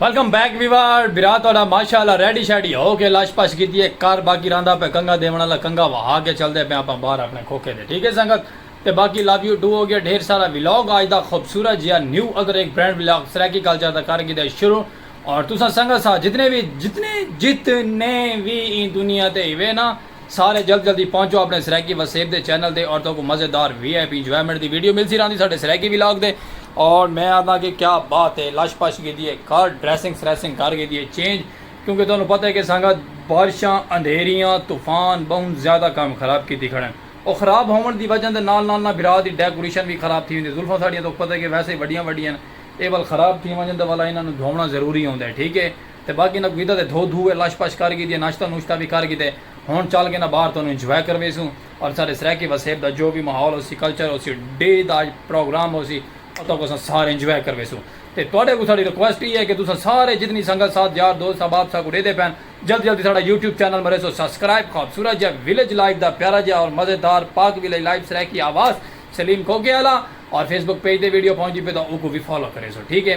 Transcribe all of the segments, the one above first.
Welcome back ویوار برا تہاڈا ماشاءاللہ ریڈی شیڈی ہو کے لش پش کیتی ہے کر باقی رہندا پے کنگا دیون والا کنگا وہا کے چلدے پے آپاں باہر اپنے کھوکھے دے ٹھیک ہے سنگت تے باقی لو یو ٹو ہو گیا ڈھیر سارا ولاگ آج دا خوبصورت جیا نیو ادر ایک برینڈ ولاگ سرائیکی کلچر دا کر گھیدا ہے شروع اور تساں سنگت سا جتنے وی جتنے جتنے وی ایں دنیا تے ہوے نا سارے جلد جلدی پہنچو اپنے سرائیکی وسیب دے چینل تے اور توکوں مزے دار وی آئی پی انجوائمنٹ دی ویڈیو ملسی راہندی ساڈے سرائیکی ولاگ دے اور میں آنداں کہ کیا بات ہے لش پش گیدی ہے کر ڈریسنگ سریسنگ کر گیدی ہے چینج کیونکہ تانوں پتہ ہے کہ سنگت بارشاں اندھیریاں طوفان بہوں زیادہ کم خراب کیتی کھڑن او خراب ہوون دی وجہ دے نال نال نا بھرا دی ڈیکوریشن وی خراب تھی ویندی زلفاں ساڈیاں توک پتہ ہے کہ ویسے ہی وڈیاں وڈیاں ہن اے ول خراب تھی ونجن تاں ولا انہاں نوں دھوونا ضروری ہوندے ٹھیک ہے۔ تے باقی انہاں کوں ویدا تے دھو دھو تے لش پش کر گھیدی ہے ناشتہ نوشتہ وی کر گھیدے ہن چل گھینا باہر تانوں انجوائے کرویسوں اور ساڈے سرائیکی وسیب دا جو وی ماحول ہوسی کلچر ہوسی ڈے دا پروگرام ہوسی اتھاں کوں اساں سارے انجوائے کرویسوں تے تہاڈے کوں ساڈی ریکویسٹ ایہ ہے کہ تساں سارے جتنی سنگت ساتھ یار دوست احباب ساکوں ڈیدے پین جلدی جلدی ساڈا یوٹیوب چینل مریسو سبسکرائب خوبصورت جئے ویلیج لائف دا پیارا جئے اور مزیدار پاک ویلیج لائف سرائیکی آواز سلیم کوکے آلا اور فیس بک پیج تے ویڈیو پہنچدی پئی تاں اوکوں وی فالو کریسو ٹھیک ہے۔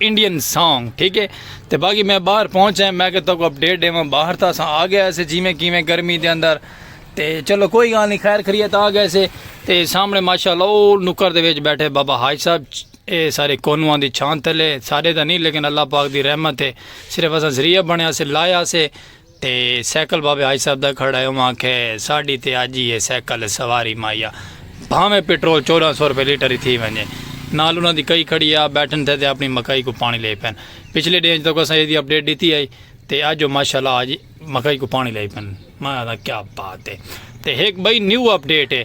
انڈین سانگ ٹھیک ہے تے باقی میں باہر پہنچا ہے میں کہ تو کو اپڈیٹ ڈیواں باہر تھا سا آ گیا ایسے جیویں کیویں گرمی دے اندر تے چلو کوئی گال نہیں خیر خریت آ گئے سے تے سامنے ماشاءاللہ او نکر دے وچ بیٹھے بابا حاج صاحب اے سارے کونواں دی چھان تلے سارے دا نہیں لیکن اللہ پاک دی رحمت ہے صرف اساں ذریعہ بنیا سے لایا سے تے سائیکل بابے حاج صاحب دا کھڑا ہے اوہ آکھے ساڈی تے اج ای ہے سائیکل سواری ماہیا بھانویں پٹرول چودہ سو روپے لیٹر ای تھی ونجے نال انہاں دی کئی کھڑی آ بیٹھن تھے تے اپنی مکئی کوں پانی لئی پن پچھلے ڈینھ تک اساں ایدی اپڈیٹ ڈتی ہئی تے اج اوہ ماشاءاللہ اج مکئی کوں پانی لئی پن ماں آکھاں کیا بات ہے تے ہک بئی نیو اپڈیٹ ہے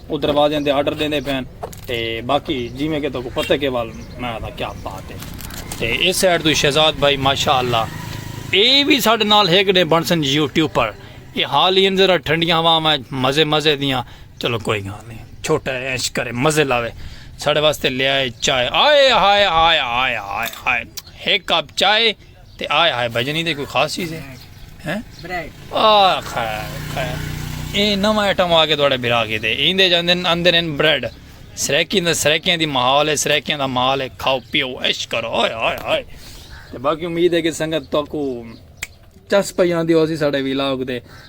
او دروازیاں دے آرڈر ڈیندے پئے ہن تے باقی جیویں کہ تہاکوں پتہ کہ وال میں آکھاں کیا بات ہے تے اس سائیڈ توں شہزاد بھائی ماشاءاللہ اے وی ساڈے نال ہک ڈے بنسن یوٹیوبر اے حال ہی ذرا ٹھنڈیاں ہواواں وچ مزے مزے دیاں چلو کوئی گال نہیں چھوٹا ہے ایش کرے مزے لاوے ساڈے واسطے لے آئے چائے آئے ہائے ہائے ہائے ہائے ہائے ہک کپ چائے تے آئے ہائے بھجن ایندے کوئی خاص چیز ہے ہیں آہ خیر خیر ایں نو آئٹم آگے دوڑے بھرا کے دے ایندے جاندن اندر ان بریڈ سریکی اندر سریکیاں دی محال ہے سریکیاں دا محال ہے کھاؤ پیو عشق کرو آئے آئے آئے تے باقی امید ہے کہ سنگت تو کو چس پہ جاندی ہو سی ساڑے ویلاگ دے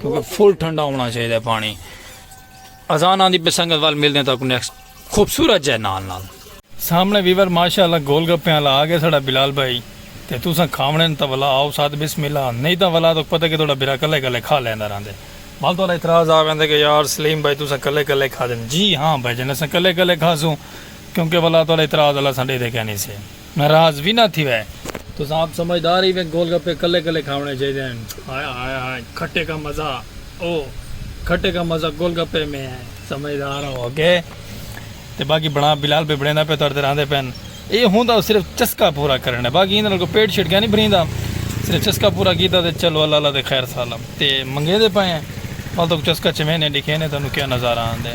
کیونکہ فل ٹھنڈا ہونا چاہیے پانی اذان آندی پہ سنگت وال ملنے تک نیکسٹ خوبصورت جے نال نال سامنے ویور ماشاءاللہ گول گپے والا آ گیا ساڈا بلال بھائی تے تساں کھاونے نے تاں ولا آؤ ساتھ بسم اللہ نہیں تاں ولا تک پتہ کہ تہاڈا بھرا کلے کلے کھا لیندا رہندے ول تہاڈا اعتراض آ ویندے کہ یار سلیم بھائی تساں کلے کلے کھادے جی ہاں بھائی جان اساں کلے کلے کھاسوں کیونکہ ولا تہاڈا اعتراض اللہ اساں ڈیدے کینی سے۔ ناراض وی نہ تھیوے۔ تساں آپ سمجھدار ہیوے گول گپے کلے کلے کھاونے چاہیدے ہن۔ ہائے ہائے ہائے کھٹے کا مزہ او کھٹے کا مزہ گول گپے میں ہے۔ سمجھدار ہو اگے تے باقی بنا بلال بھائی بنیندا پے تڑتے راندے پے ہن۔ اے ہوندا صرف چسکا پورا کرنے باقی ایندے نال کوئی پیٹ شیٹ کیا نہیں بھریندا صرف چسکا پورا کیتا تے چلو اللہ اللہ تے خیر سالم تے منگیندے پے ہیں۔ پھل تک چسکا چمینے ڈیکھینے تانوں کیا نظارہ آندے۔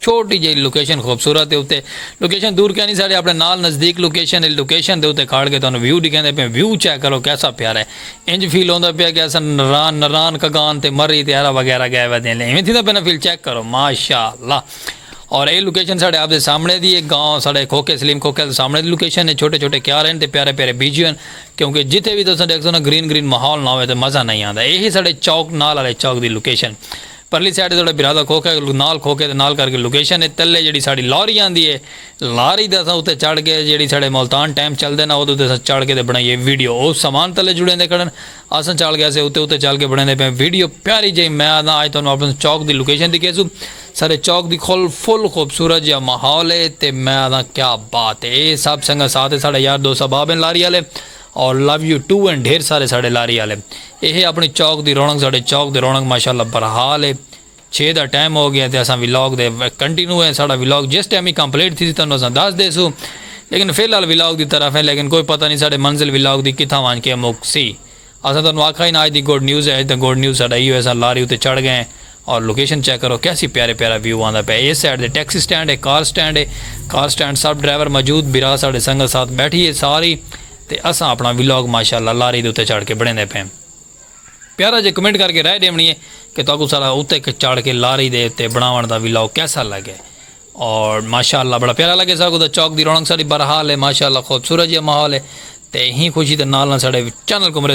چھوٹی جئی لوکیشن خوبصورت ہے اتے لوکیشن دور کینی ساڑے اپنے نال نزدیک لوکیشن ہے لوکیشن دے اتے کھاڑ کے تانوں ویو ڈکھیندے پئے ویو چیک کرو کیسا پیارا ہے انج فیل ہوندا پیا کہ اساں نران نران کگان تے مری تے ہرا وغیرہ گئے وے دین لے ایویں تھیندا پیا نا فیل چیک کرو ماشاءاللہ اور اے لوکیشن ساڑے آپ دے سامنے دی ایک گاؤں ساڑے کھوکھے سلیم کھوکھے دے سامنے دی لوکیشن ہے چھوٹے چھوٹے کیار ہیں تے پیارے پیارے بیجیو ہیں کیونکہ جتھے بھی تساں دیکھ سو نا گرین گرین ماحول نہ ہوئے تے مزہ نہیں آندا اے ہی ساڑے چوک نال والے چوک دی لوکیشن پرلی سائیڈ تے تہاڈا بھرا دا کھوکھے نال کھوکھے دے نال کرکے لوکیشن اے تلے جیڑھی ساڈی لاری آندی اے لاری تے اساں اتے چڑھ کے جیڑھی ساڈے ملتان ٹیمپ چلدے نا اودے اتے اساں چڑھ کے تے بنائیے ویڈیو او سامان تلے جڑیندے کھڑن اساں چڑھ کے اسے اتے اتے چل کے بنائیندے پئے ویڈیو پیاری جئی میں آہداں اج تہانوں اپنے چوک دی لوکیشن دکھیسو ساڈے چوک دی کھل فل خوبصورت جیہا ماحول اے تے میں آہداں کیا بات اے اے سب سنگت ساتھ اے ساڈے یار دوست احباب ہیں لاری آلے اور لو یو ٹو اینڈ ڈھیر سارے ساڈے لاری آلے ایہے اپنی چوک دی رونق ساڈے چوک دی رونق ماشاءاللہ برحال ہے چھے دا ٹائم ہو گیا تے اساں ولاگ دے کنٹینیو ہیں ساڈا ولاگ جس ٹائم ہی کمپلیٹ تھی سی تانوں اساں دس دے سو لیکن فی الحال ولاگ دی طرف ہیں لیکن کوئی پتہ نہیں ساڈے منزل ولاگ دی کتھاں وانج کے مک سی اساں تانوں آکھا ہی نا اج دی گڈ نیوز ہے اج دا گڈ نیوز ساڈا ایہو ہے اساں لاری اتے چڑھ گئے ہیں اور لوکیشن چیک کرو کیسی پیارے پیارا ویو آندا پیا ہے اس سائیڈ دے ٹیکسی سٹینڈ ہے کار سٹینڈ ہے کار سٹینڈ سب ڈرائیور موجود برا ساڈے سنگت ساتھ بیٹھی ہے ساری تے اساں اپنا ولاگ ماشاءاللہ لاری دے اتے چڑھ کے بنیندے پئے پیارا جے کمنٹ کر کے رائے ڈیونی ہے کہ تاکو سارا اتے چڑھ کے لاری دے اتے بناون دا ولاگ کیسا لگے اور ماشاءاللہ بڑا پیارا لگے سا کو دا چوک دی رونق ساری برحال ہے ماشاءاللہ خوبصورت جی ماحول ہے تے ہی خوشی دے نال نہ ساڈے چینل کو مرے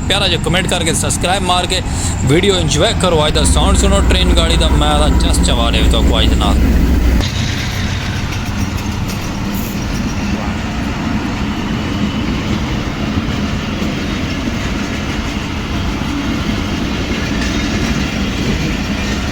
پیارا جو کمنٹ کر کے سبسکرائب مار کے ویڈیو انجوائے کرو آج دا ساؤنڈ سنو ٹرین گاڑی دا میں دا چس چوا دے تو کو آج دے نال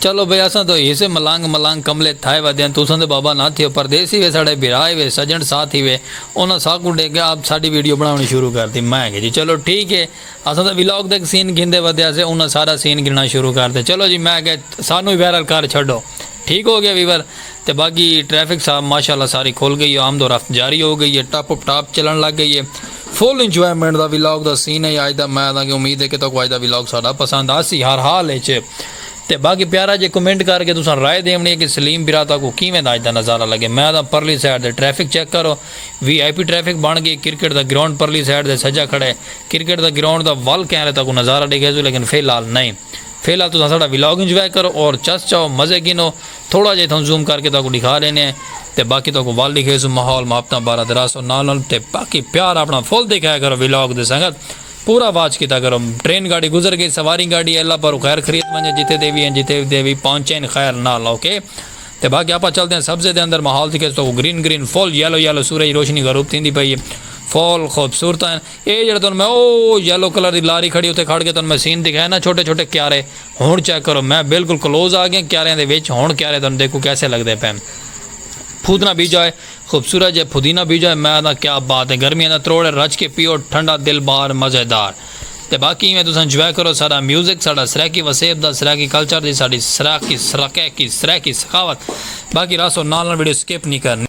چلو بھئی اساں تاں ہوئی سے ملانگ ملانگ کملے تھائے ودیاں تساں تے بابا نہ تھیو پردیسی وے ساڈے بھرا ای وے سجن ساتھی وے انہاں ساکوں ڈیکھ کے آپ ساڈی ویڈیو بناونی شروع کرتی میں آکھیا جی چلو ٹھیک ہے اساں تاں ولاگ دا ہک سین گھندے ودیا سے انہاں سارا سین گھننا شروع کرتے چلو جی میں آکھیا سانوں وی وائرل کر چھڈو ٹھیک ہو گیا ویور تے باقی ٹریفک صاحب ماشاءاللہ ساری کھل گئی ہے آمد و رفت جاری ہو گئی ہے ٹپ ٹاپ چلن لگ گئی ہے فل انجوائمنٹ دا ولاگ دا سین ہے اج دا میں آکھداں کہ امید ہے کہ تہاکوں اج دا ولاگ ساڈا پسند آسی ہر حال اچ تے باقی پیارا جے کمنٹ کر کے تساں رائے ڈیونڑی ہے کہ سلیم برا تہاکوں کیویں دا اج دا نظارہ لگے میچ دا پرلی سائیڈ دے ٹریفک چیک کرو وی آئی پی ٹریفک بنڑ گئی کرکٹ دا گراونڈ پرلی سائیڈ دے سجا کھڑے کرکٹ دا گراونڈ دا ول کینرے تہاکوں نظارہ ڈیکھیسوں لیکن فی الحال نئیں فی الحال تساں ساڈا ولاگ انجوائے کرو اور چس چاؤ مزے گھنو تھوڑا جے اتھاں زوم کر کے تہاکوں ڈیکھا ڈینے ہیں تے باقی تہاکوں ول ڈیکھیسوں ماحول محبتاں بارہ دراصل نال نال تے باقی پیار اپنڑاں فل ڈیکھایا کرو ولاگ دے سنگت۔ پورا واچ کیتا کرو۔ ٹرین گاڑی گزر گئی سواری گاڑی اللہ پاروں خیر خریت ونجے جتے دے وی ہیں جتے دے وی پہنچین خیر نال اوکے تے باقی آپاں چلدے ہیں سبزے دے اندر ماحول دی کس تو green green full yellow yellow سورج روشنی غروب تھیندی پئی ہے فل خوبصورت ہیں اے جڑا تن میں او یلو کلر دی لاری کھڑی اتے کھڑ کے تن میں سین دکھائے نا چھوٹے چھوٹے کیارے ہن چیک کرو میں بالکل کلوز آ گیاں کیاریاں دے وچ ہن کیارے تن دیکھو کیسے لگدے پئے پھودنا بیجا ہے خوبصورت جے پھدینہ بیجا ہے میں آدھاں کیا بات ہے گرمیاں دا تروڑ ہے رج کے پیو ٹھنڈا دل بار مزے دار تے باقی ایویں تساں جوائے کرو ساڈا میوزک ساڈا سرائیکی وسیب دا سرائیکی کلچر دی ساڈی سرائیکی سرقیکی سرائیکی ثقافت باقی راسو نال نال ویڈیو سکپ نی کرنی۔